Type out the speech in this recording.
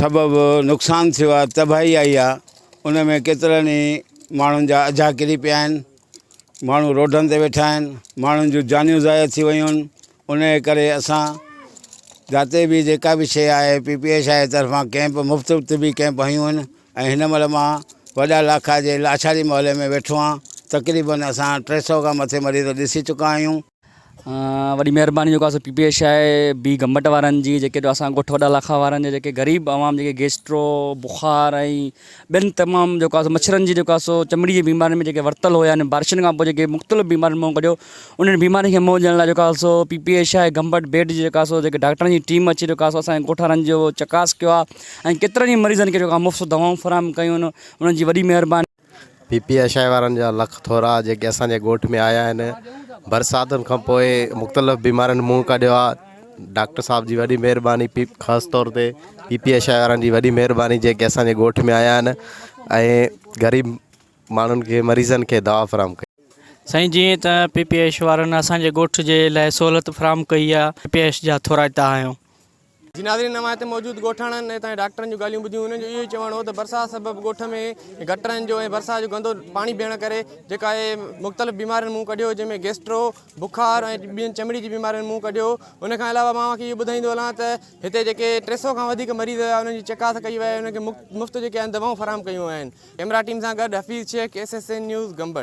سبب نقصان ٿيو آهي تباهي آئي آهي ان ۾ ڪيترن ئي ماڻهن جا اجها ڪري پيا آهن ماڻهو روڊن تي ويٺا آهن ماڻهن جون جانيون ضايع ٿي ويون آهن ان جي ڪري اسان جاتے به جيڪا به شيء آهي پي پي ايش آئي طرفان ڪيمپ مفت طبي ڪيمپ هيون آهن ۽ هن مهل مان وڏا لاکا جي لاچاري محلي ۾ ويٺو آهيان تقريبن اسان ٽي سو کان مٿي مريض ڏسي چڪا آهيون وڏي مهرباني جيڪو اسان پي پي ايش آء بي گمبٽ وارن جي جيڪي جو اسان ڳوٺ وڏا لاکا وارن جي جيڪي غريب عوام جيڪي گيسٽرو بخار ۽ ٻين تمام جيڪو اسان مڇرن جي جيڪو اسو چمڙي جي بيمارين ۾ جيڪي ورتل هو يعني بارشن کان پوء جيڪي مختلف بيمارين مون ڪڍيو انهن بيمارين کي مون ڏيڻ لاء جيڪو اسو P P H I Gambat بيٽ جي جيڪو اسو جيڪي ڊاڪٽرن جي ٽيم اچي جيڪو اسو اسان ڳوٺ وارن جو چڪاس ڪيو آ ۽ ڪيترن ئي مريضن کي جيڪو مفت دوائون فراهم ڪيون انهن جي وڏي مهرباني پي پي اي شاهه وارن جا لک ٿورا جيڪي اسان جي ڳوٺ ۾ آيا آهن برساتن کان پوء مختلف بيمارين منهن ڪڍيو آ ڊاڪٽر صاحب جي وڏي مهرباني پي خاص طور تي پي پي اي شاهه وارن جي وڏي مهرباني جيڪي اسان جي ڳوٺ ۾ آيا آهن ۽ غريب ماڻهن کي مريضن کي دوا فراهم ڪئي سائين جيئن ته پي پي ايش وارن اسان جي ڳوٺ جي لاء سهولت فراهم ڪئي آ پي پي ايش جا ٿورائتا آهيون. جي ناظرين اوهان هتي موجود ڳوٺاڻن ۽ هتان جي ڊاڪٽرن جون ڳالهيون ٻڌيون انهن جو اهو ئي چوڻ هو ته برسات سبب ڳوٺ ۾ گٽرن جو ۽ برسات جو گندو پاڻي بيهڻ ڪري جيڪا اهي مختلف بيمارين منهن ڪڍيو جنهن ۾ گيسٽرو بخار ۽ ٻين چمڙي جي بيمارين منهن ڪڍيو ان کان علاوه مان اوهان کي اهو ٻڌائيندو هلان ته هتي جيڪي ٽي سئو کان وڌيڪ مريض هيا انهن جي چڪاس ڪئي وئي انهن کي مفت جيڪي آهن دوائون فراهم ڪيون ويون آهن ڪئميرا ٽيم سان گڏ Hafeez Sheikh S S N news Gambat